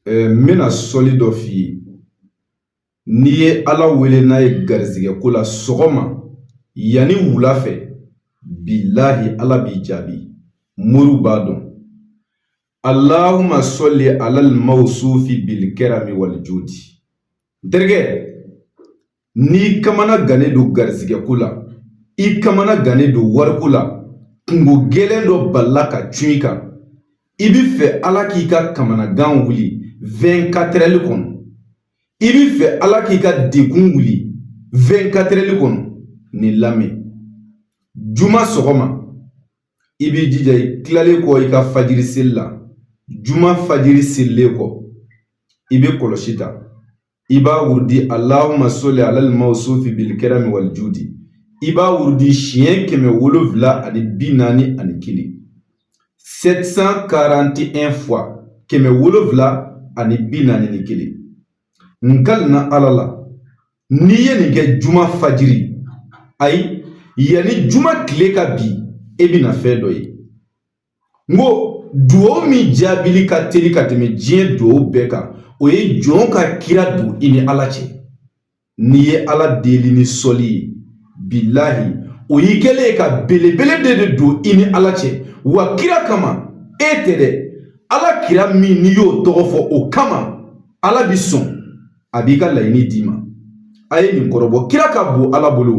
n bɛna sɔli dɔ f'i ye n'i ye ala wele n'a ye garizigɛ ko la sɔgɔma yanni wula fɛ bilahi ala b'i jaabi moriw b'a dɔn alahuma sɔli alal mawsufi bil karami wal judi n terikɛ N'i kamana gannen don garizigɛ ko la, i kamana gannen don wariko la, kungo gɛlɛn dɔ balila ka cun i kan, i bɛ fɛ Ala k'i ka kamanagan wuli 24 heures kɔnɔ, i bɛ fɛ Ala k'i ka degun wuli 24 heures kɔnɔ, nin lamɛn. Juma sɔgɔma, i b'i jija i tilalen kɔ i ka fajiri seli la, juma fajiri selilen kɔ, i bɛ kɔlɔsi ta, i b'a wurudi alahuma soli alal mawsufi bil karami wal judi i b'a wurudi siɲɛ kɛmɛ wolonfila ani bi naani ani kelen 741 fois kɛmɛ wolonfila ani bi naani ni kelen n kalila ala la n'i ye nin kɛ juma fajiri ayi yanni juma tile ka bin e bɛna fɛn dɔ ye n ko duwawu min jaabili ka teli ka tɛmɛ diɲɛ duwawu bɛɛ kan o ye jɔn ka kira don i ni ala cɛ n'i ye ala deli ni sɔli ye bilahi o y'i kɛlen ye ka belebele de de don i ni ala cɛ wa kira kama e tɛ dɛ ala kira min n'i y'o tɔgɔ fɔ o kama ala bi sɔn a b'i ka laɲini d'i ma a ye nin kɔrɔbɔ kira ka bon ala bolo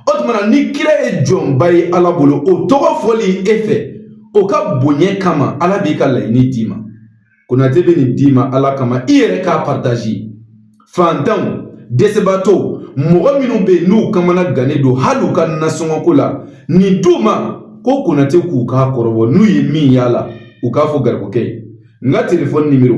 o tuma na ni kira ye jɔnba ye ala bolo o tɔgɔ fɔli e fɛ o ka bonya kama ala b'i ka laɲini d'i ma konate bɛ nin d'i ma ala kama i yɛrɛ k'a partazi fantanw dɛsɛbaatɔw mɔgɔ minnu bɛ yen n'u kamana gannen don hali u ka nasɔngɔko la nin d'u ma ko konate k'u k'a kɔrɔbɔ n'u ye min y'a la u k'a fɔ garibukɛ ye n ka telefɔni nimero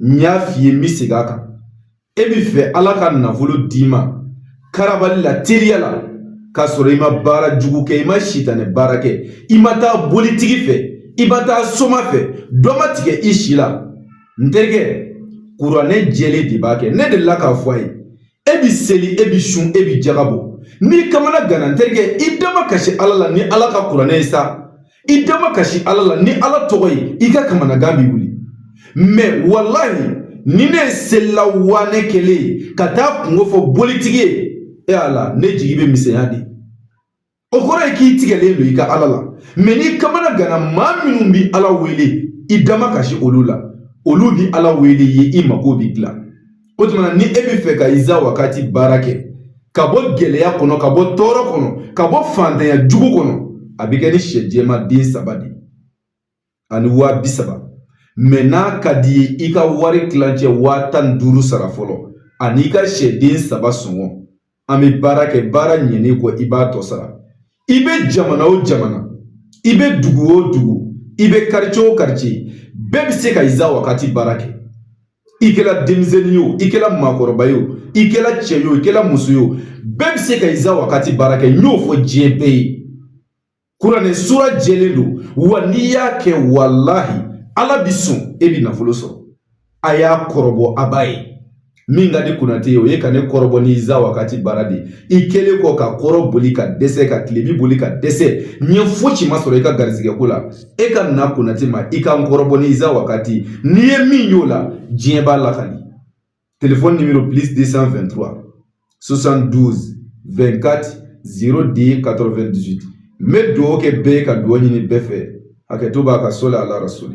n y'a f'i ye n bɛ segin a kan e bɛ fɛ ala ka nafolo d'i ma karabali la teliya la k'a sɔrɔ i ma baara jugu kɛ i ma sitanɛ baara kɛ i ma taa bolitigi fɛ i ma taa soma fɛ dɔ ma tigɛ i si la n terikɛ kuranɛ jɛlen de b'a kɛ ne delila k'a fɔ a ye e bi seli e bi sun e bi jaga bɔ n'i kamana ganna n terikɛ i damakasi ala la ni ala ka kuranɛ ye sa i damakasi ala la ni ala tɔgɔ ye i ka kamanagan bi wuli mɛ walahi ni ne ye selila wane kelen ye ka taa kungo fɔ bolitigi ye e ala ne jigi bɛ misɛnya dɛ O kɔrɔ ye k'i tigɛlen don i ka ala la mɛ n'i kamana ganna maa minnu bɛ ala wele i damakasi olu la olu bɛ ala wele i ye i mako bɛ dilan o tuma na ni e bɛ fɛ ka iza wakati baara kɛ ka bɔ gɛlɛya kɔnɔ ka bɔ tɔɔrɔ kɔnɔ ka bɔ fantanya jugu kɔnɔ a bɛ kɛ ni sɛ jɛman den saba de ye ani waa bi saba mɛ n'a ka d'i ye i ka wari tilancɛ waa tan ni duuru sara fɔlɔ ani i ka sɛden saba sɔngɔ an bɛ baara kɛ baara ɲɛnen kɔ i b'a tɔ sara i bɛ jamana o jamana i bɛ dugu o dugu i bɛ karice o karice bɛɛ bɛ se ka Iza wagati baara kɛ i kɛra denmisɛnnin ye o i kɛra maakɔrɔba ye o i kɛra cɛ ye o i kɛra muso ye o bɛɛ bɛ se ka Iza wagati baara kɛ n y'o fɔ diɲɛ bɛɛ ye Kuranɛ sura jɛlen don wa n'i y'a kɛ walahi ala bi sɔn e bi nafolo sɔrɔ a y'a kɔrɔbɔ a b'a ye min ka di Konate ye o ye ka ne kɔrɔbɔ ni Iza wagati baara de i kɛlen kɔ ka kɔrɔn boli ka dɛsɛ ka tilebi boli ka dɛsɛ ɲɛ fosi ma sɔrɔ i ka garisɛgɛko la e ka na Konate ma i ka n kɔrɔbɔ ni Iza wagati n'i ye min y'o la diɲɛ b'a lakali Telefɔni nimoro plis de san fɛntura sosan duuru bɛnkati z de ye kato2 dusu n bɛ dugawu kɛ bɛɛ ka dugawu ɲini bɛɛ fɛ hakɛ to b'a ka so la a lara sɔrɔ